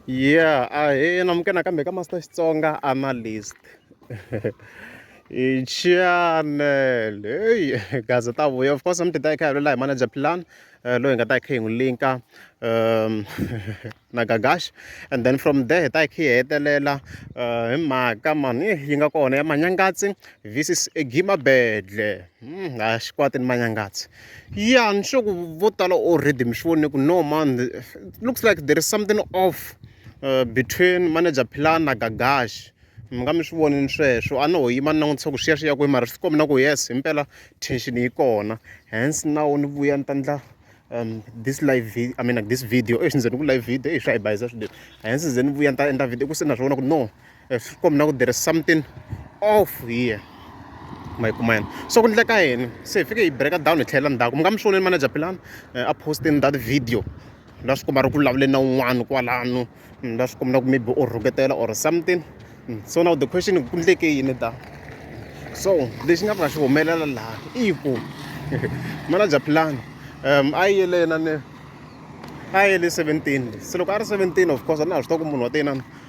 yeah a hi namuke nakambe ka master xitsonga analyst hi channel heyi gaze ta vuya of course mi ti ta hi kha hi lula hi manager plan eh, loyi hi nga ta hi kha hi n'wi linka um na gagash and then from there hi ta hi kha hi hetelela eh, hi mhaka mani eh, yi nga kona ya manyangatsi visis egima bedle hmm, ha xikwatini manyangatsi Yeah, ni sure ku vo tala already mi swi vone ku no man looks like there is something off uh, between manager Philani na Gagashi mi nga mi swi vonini sweswo a ni ho yima ni langutisa ku swiya swi ya kwihi mara swi kombi na ku yes himpela tension yi kona hence nawu ni vuya ni ta ndla um this live video i mean like this video exi ndzeni ku live video exi swa hi bayisa swinene hence ze ni vuya ni ta endla video ku se na swi vona ku no ehlikom na ku there is something off here ma yi kuma yena so ku ndleka yini se hi fike hi breka down hi tlhelela ndzhaku mi nga mi swi voneni manager philani eh, a postin that video la swi komba ri ku vulavuleni na un'wana kwalano mm, la swi komba na ku maybe u rhuketela or something mm, so now the question ku ndleke yini da so lexi nga pfuka xi humelela laha i ku manager philani um a yi yele yena ni a yi yele seventeen se loko a ri seventeen of course a na ha swi tiva ku munhu wa teyinana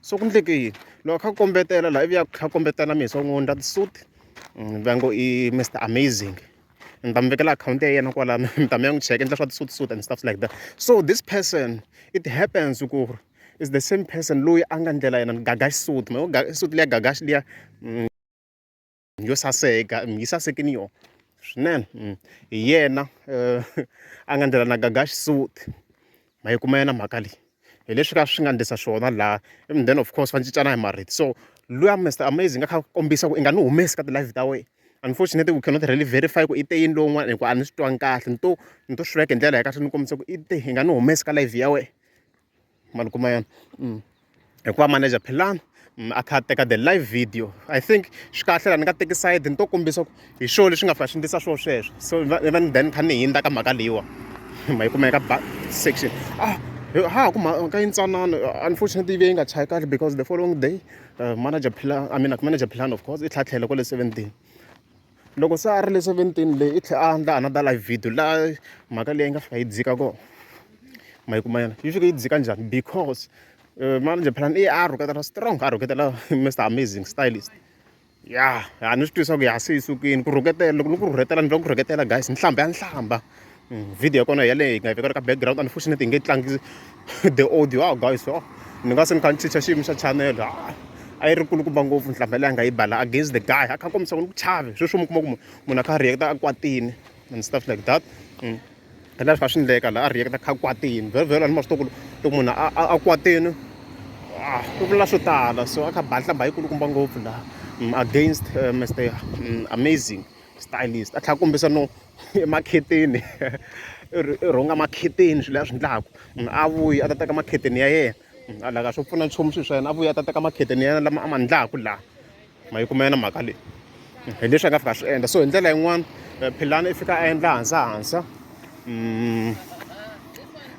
so ku endleke yini loko a kha a kombetela laha ivi a kha a kombetela mina so n'wi endla ti-suit va ngo i Mister Amazing ni ta mi vekela akhawunti ya yena kwala mi ta mi ya n'wi cheka endla swa ti-suit suit and stuff like that so this person it happens ku ri is the same person loyi a nga ndlela yena ni Gagash suit ma yo suit liya Gagash liya. yo saseka yi saseke ni yona swinene mm. hi yena eh, a nga ndlela na gaga xisuti ma yi kuma yena mhaka leyi hi leswi ka swi nga ndlisa swona laha even then of course va cincana hi marito so luya mr amazing a kha kombisa ku i nga ni humesi ka ti-live ta wena unfortunately we cannot really verify ku i te yini lowun'wana hikuva a ni swi twangi kahle ni to ni to swi veka hi ndlela ya kahle ni kombisa ku i te hi nga ni humesi ka live ya wena ma ni kuma yona hikuva manager philani a kha a teka the live video i think swi kahle la ni nga teki side ni to kombisa ku hi swona leswi nga fa swi endlisa swona sweswo so va ni then ni kha ni hindza ka mhaka leyiwa ma yi kumeka ba section ah ha ku mhaka yintsanana unfortunately yi ve yi nga chayi kahle because the following day manager phila i mean manager philani of course i tlhatlhele kwale seventeen. Loko se a ri le seventini leyi i tlhela a endla another live video laha mhaka leyi nga fika yi dzika kona. Ma yi kuma yona? Yi fike yi dzika njhani? Because manjhe phela i a rhuketela strong, a rhuketela Mister Amazing Stylist. Ya ha ni swi twisisa ku ya se yi sukile ku rhuketela loko ni ku rhuketela ni twa ku rhuketela guys nhlamba ya nhlamba. video ya kona yaleyo hi nga yi vekela ka background unfortunately hi nge tlangi the audio a guys o ni nga se ni kha ni chicha xiyimo xa chanele a a yi ri kulukumba ngopfu nhlamba leyi a nga yi bala against the guy a kha kombisa ku ni ku chave sweswo mi kuma ku munhu a kha a reacta a kwatini and stuff like that mm. hi laha swi kha swi ndleka laha a reacta kha kwatini very very a ni ma swi tokulo loko munhu a kwatini ah, ku vula swo tala so a kha ba nhlamba yi kulukumba ngopfu laha mm, against uh, mr mm, amazing stylist a tlha kombisa no emakhetheni i rhunga makhetheni swilo leswi a swi endlaka munhu a vuya a ta teka makhetheni ya yena a la ka swo pfuna nchumu swilo swa yena a vuya a ta teka makhetheni ya yena lama a ma endlaka laha ma yi kuma yona mhaka leyi hi leswi a nga fika a swi endla so hi ndlela yin'wani eh, philani i fika a endla hansa hansa mm,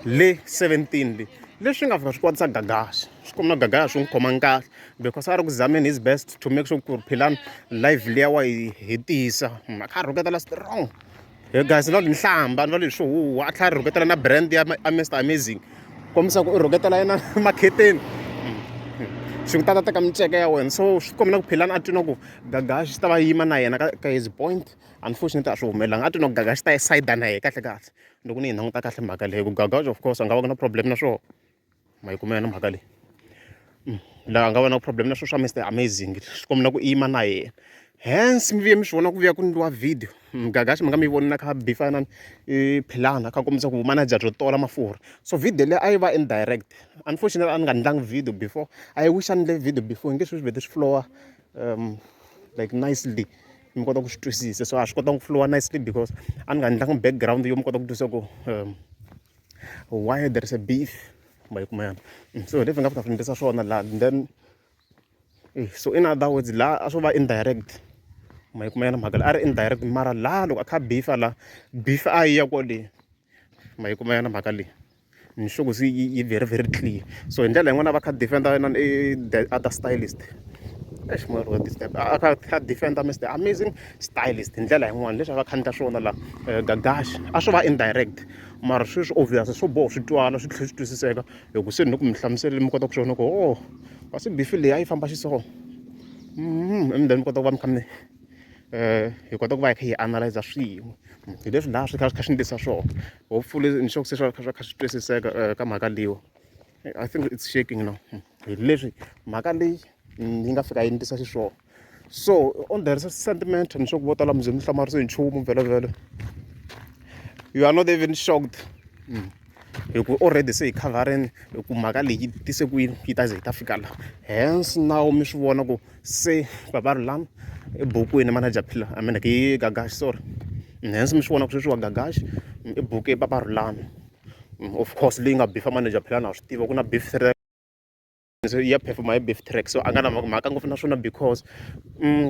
le 17 le leswi nga fika swi kwatisa gagaxa swi kuma gagaxa swi n'wi khomanga kahle because a ri ku zameni his best to make sure ku ri philani live leya wa yi hetisa mhaka a rhuketela strong he guys no nhlamba no leswi huwa a tlhela a rhuketela na brand ya mr amazing kombisa ku i rhuketela yena makheteni swi ku tata teka miceke ya wena so swi kombela ku philani a twi no ku gaga xi ta va yima na yena ka his point unfortunately a swi humelelanga a twi no ku gaga xi ta yi sayida na yena kahle kahle loko ni yi languta kahle mhaka leyi ku gaga of course a nga va ku na problem na swona ma yi kumela na mhaka leyi mm, laha nga va na problem na swo swa mr amazing swi kombela ku yima na yena hence mi vuye mi swi vona ku vuya ku ndliwa video mgagaxi mm, mi nga mi voni na kha bifanani i philana kha kombisa ku manager byo tola mafurha so video leyi a yi va indirect unfortunately a ni nga ndlangi video before a yi wish a ni le video before nge swi swi vete swi flowa um like nicely mi kota ku swi twisisa so a swi kotanga ku flowa nicely because a ni nga ndlangi background yo mi kota ku twisisa ku um why there is a beef ma yi kuma yana mm, so leswi nga ta fambisa swona laha then eh, so in other words laha a swo va indirect ma yi kuma yana mhaka leyi a ri indirect mara laha loko a kha beefa laha beef a yi ya kwaleyi ma yi kuma yana mhaka leyi nhloko se yi very very clear so hi ndlela yin'wana va kha defender yinani i the other stylist eish moya ro disturb a kha kha defender mr amazing stylist hi ndlela yin'wana leswi a va khandla swona la eh, gagash a swo va indirect mara sweswi obvious swo boho swi twala swi tlhela swi twisiseka hi ku se ni ku mi hlamuseleni mi kota ku swona ku o oh, kasi bifi leyi a yi famba xiswona mm-hmm. and then mi kota ku va mi kha mi um hi kota ku va hi kha hi analyza swin'we hi leswi laha swi kha swi kha swi ni tisa swona hopefully ni sure ku se swa kha swa kha swi twisiseka eh, ka mhaka leyiwa i think it's shaking now hi leswi mhaka leyi yi nga fika yi ni tisa xiswona so on the sentiment ni swa ku vo tala mi ze mi hlamarisiwe hi nchumu vhelovhelo you are not even shocked mm. hi ku already se hi coverini hi ku mhaka leyi tise ku yini yi ta ze yi ta fika la hence nawu mi swi vona ku se baba ri lani ebukwini manager phila i mean hi gagaxi sorry hence mi swi vona ku sweswi wa gagaxi i buku i papa ri lani of course leyi nga bifa manager phila na swi tiva ku na beef ya perform-a hi beef track so a nga na mhaka ngopfu na swona because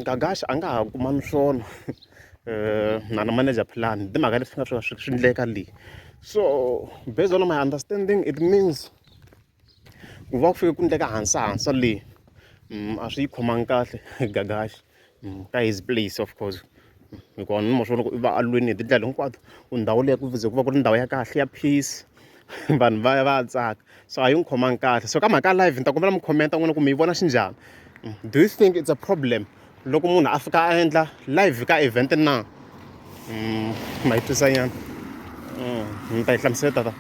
Gagash a nga ha kuma ni swona na na manager plan hi timhaka leswi nga swi swi swi endleka leyi so based on my understanding it means ku va ku fike ku endleka hansa hansa leyi a swi yi khomangi kahle Gagash. mm, ka his place of course hikuva ni mosvo loko i va alweni hi tindlela hinkwato ku ndhawu leyi ku ze ku va ku ri ndhawu ya kahle ya peace vanhu va ya va ya tsaka so a yi n'wi khomangi kahle so ka mhaka ya live ni ta kombela mi khomenta n'wina ku mi yi vona xi njhani mm, do you think it's a problem loko munhu a fika a endla live ka event na mm, ma yi twisanyana ni ta yi hlamusela tata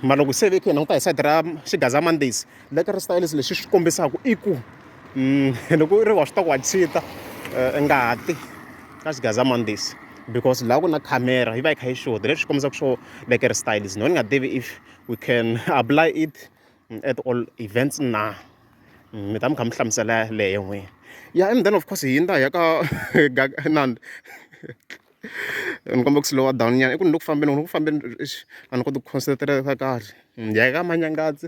mara loko se ve khe hi languta hi side ra xigaza mondays Lekker styles lexi swi kombisaka i ku mm, loko u ri wa swi ta ku wa chita eh, ngati ka xigazamandisi because laha ku na camera yi va yi kha yi xota leswi kombisaka swo lekker styles no ni nga tivi if we can apply it mm, at all events na mi ta mi kha mi hlamusela leyo n'wini ya and then of course hi yindza hi ya ka nandi ni kombeka ku slowa down nyana i ku ni le ku fambeni loko ni ku fambeni a ni koti ku concentrata kahle hi ya ka manyangadzi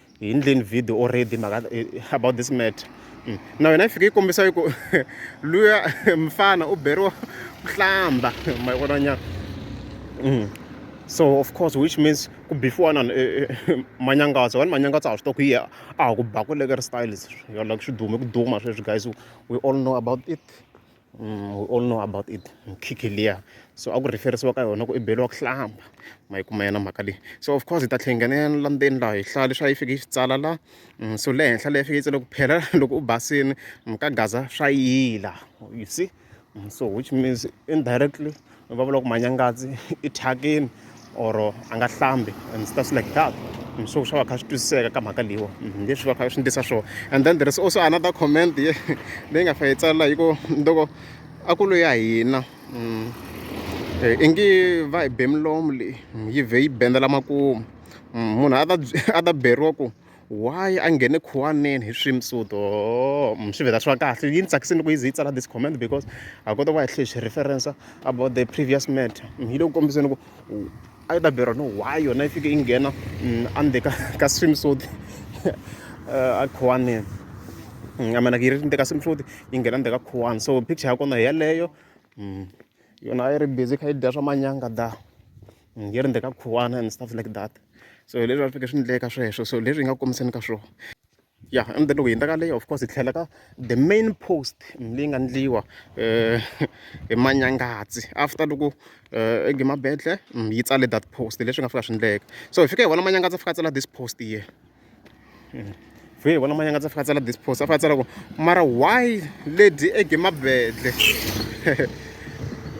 hi ndleni video already mhaka eh, about this matter mm. na yona yi fike yi kombisa yi ku luya mfana u beriwa ku hlamba ma yi vona nyana mm. so of course which means ku before na eh, eh, manyangatsa vanhu manyangatsa a swi to ku yi a ha ku ba ku lekeri styles yo like swi dume ku duma sweswi guys we all know about it we all know about it mukhikhi liya so a ku refer-isiwa ka yona ku i beriwa ku hlamba ma yi kuma yena mhaka leyi so of course hi ta tlhe hi nghena la ndzeni laha hi hlaya leswi a yi fike yi swi tsala la mm, so le henhla leyi fike yi tsala ku phela loko u basini mkagaza swa yila you see mm, so which means indirectly va vula ku manyangazi i thyakini or a nga hlambi and stuff like that so swa va kha swi twisiseka ka mhaka leyiwa mhm, leswi va kha swi ndlisa swona and then there is also another comment ye leyi nga fa yi tsala hi ku loko a ku loyi ya hina mm, eh, i ngi va hi be milomu leyi mm, yi vhe yi bendela makumu mm, munhu a ta beriwa ku why a nghene khuwaneni hi swimsuto swi vhela swi va kahle yi ni tsakisini loko yi ze yi tsala this comment because ha kota ku va hi tlhe hi swi reference about the previous matter yi le ku kombiseni ku a yi ta beriwa no why yona yi fike yi nghena andzeni ka ka swimsuit a khuwaneni a mean yi ri ndzeni ka swimsuit yi nghena ndzeni ka khuwani so picture ya kona hi yeleyo yona a yi ri busy kha yi dya swa manyanga da nge ri ka khuwana and stuff like that so hi leswi a swi fike swi endleka sweswo so leswi hi nga kombiseni ka swona ya and then loko hi endla ka leyi of course hi tlhela ka the main post leyi nga endliwa um hi manyangatsi after loko um egemabetle yi tsale that post leswi nga fika swi endleka so hi fike hi vona manyangatsi a fika a tsala this post here vhe vona manyanga tsa fika tsala dispos a fika tsala ku mara why lady ege mabedle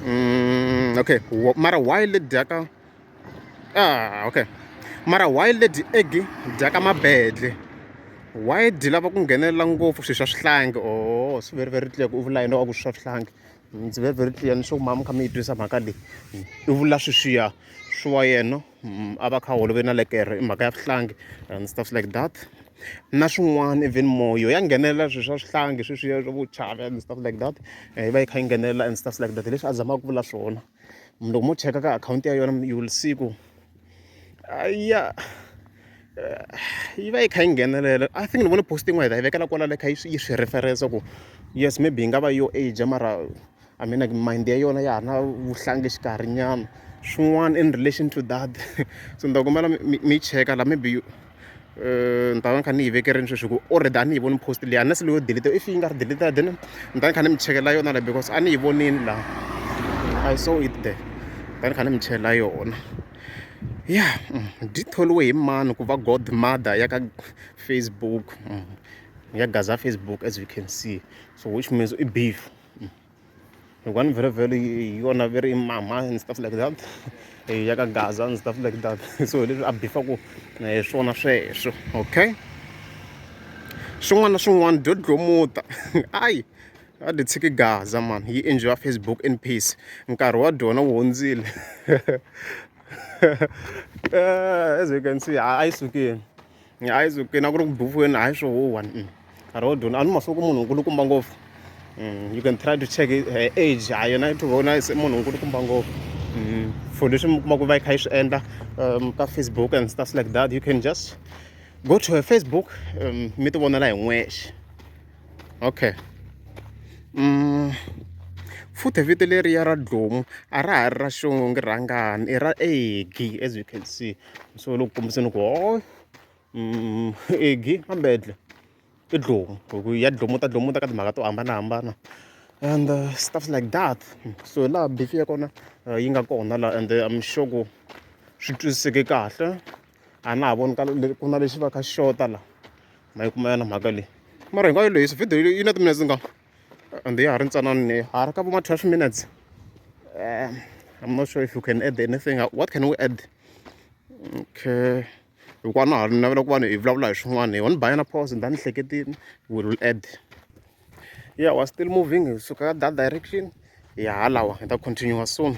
mm, okay mara why lady aka ah okay mara why lady ege dyaka mabedle why di lava ku nghenelela ngopfu swilo swa swihlangi o oh, swi very very clear ku u vula yena wa ku swi swa swihlangi ndzi very very clear ni swa ku mama kha mi yi twisa mhaka leyi i vula sweswiya swi wa yena mm, a va kha holoveni na lekere i mhaka ya swihlangi and stuff like that na swin'wana even moyo ya nghenelela swilo swa swihlangi sweswiya swa vo chava and stuff like that eh, yi va yi kha yi nghenelela and stuff like that leswi a zamaka ku vula swona loko mo cheka ka akhawunti ya yona you will see ku ya eh, yi va yi kha yi nghenelela i think ni vone posting wa hi ta yi vekela kwala le kha yi swi referensa ku yes maybe yi nga va yo age mara I mean like mind ya yona ya ha ri na vuhlangi xikarhi nyana swin'wana in relation to that so ni ta kombela mi mi cheka la maybe you eh, ni ta va ni kha ni yi vekerini sweswi ku already a ni yi voni post leyi unless leyo delete if yi nga ri delete then ni ta ni kha ni mi chekela yona la because a ni yi vonini laha i saw it there ta ni kha ni mi chela yona ya mm, byi tholiwe hi mani ku va god mother ya ka facebook mm, ya gaza facebook as you can see so which means i beef Hi one very very hi yona very mama and stuff like that hi ya ka gaza and stuff like that so hi leswi a bifa ku hi eh, swona sweswo okay swin'wana na swin'wana dyo dlomuta ayi a dyi tshiki gaza man yi enjoya facebook in peace nkarhi wa dyona wu hundzile eh, as you can see a yi sukile hayi zukini a ku ri ku bufuweni hayi swo huwa nkarhi wo duna a ni masiku munhu nkulukumba ngopfu mm, you can try to check her age ha yona i tivona se munhu nkulukumba ngopfu mm, for leswi mi kuma ku va yi kha yi swi endla um, ka facebook and stuff like that you can just go to her facebook um, mi ti vonela hi n'wexe okay mm, futhi vito leriya ra dlomu a ra ha ri ra xongo ngi rhangani i ra egi as you can see so loko kombiseni ku ho egi mambedle i dlomu hi ku ya dlomu ta dlomu ta ka timhaka to hambanahambana and uh, stuff like that so laha bifi ya kona uh, yi nga kona laha and i'm sure ku swi twisiseke kahle a na ha voni ku na lexi va kha xota laha ma yi kuma yana mhaka leyi mara hinkwayo leyi video yi na timinetse nga and ya ha ri ntsanani ha ri ka vo ma twelve minutes um i'm not sure if you can add anything what can we add okay hikuva na ha ri navela ku vanhu hi vulavula hi swin'wana hi one bayana pause ni ta ni hleketini we will add yeah we're still moving hi suka ka that direction hi halawa hi ta continue soon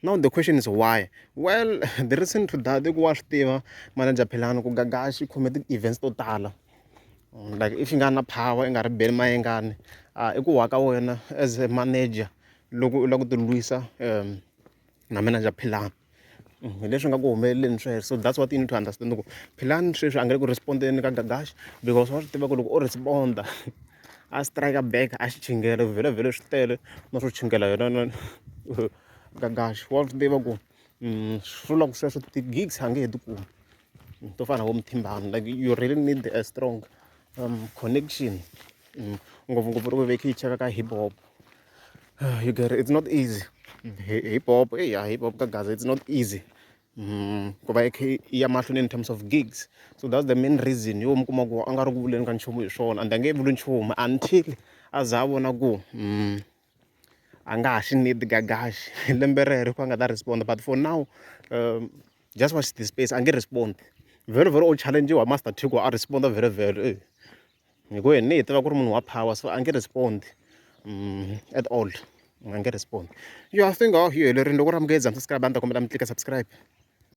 Now the question is why? Well, the reason to that, ku wa swi tiva manager Philani ku gaga xi khome ti-events to tala. Mm, like if you nga na power, i nga ri beli mayengani. Ah, i ku wa ka wena as a manager loko u lava ku tilwisa um na manager Philani. Mm, hi leswi nga ku humeleleni sweswo so that's what you need to understand ku philani sweswi a nga le ku respondeni ka gagash because wa swi tiva ku loko u responda a strike back a xi chingela vhele vhele swi tele na swo chingela yona gagaxi wa swi tiva ku mm, swi vula ku sweswo ti-gigs a nge he ti kumi to fana vo muthimbani like you really need a strong um, connection mm, ngopfungopfu ri vevekhi yi cheka ka hip hop ah, you get it. it's not easy mm, hip hop eya hip hop ka gaza it's not easy Mm, ku va ikhe ya mahlweni in terms of gigs so that's the main reason yo mi kuma ku a nga ri ku vuleni ka nchumu hi swona and a nge vuli nchumu until a za a vona ku mm, a nga ha xi need gagaxi hi lembe rero a nga ta respond but for now um just watch the space a nge respond very very old challenge wa master t ku a respond very very eh. hi ku yena hi tiva ku ri munhu wa power so a nge respond um at all a nge respond yo i think aw hi helerile loko ri amukele zamsascribe a ni ta kombela mi tlika subscribe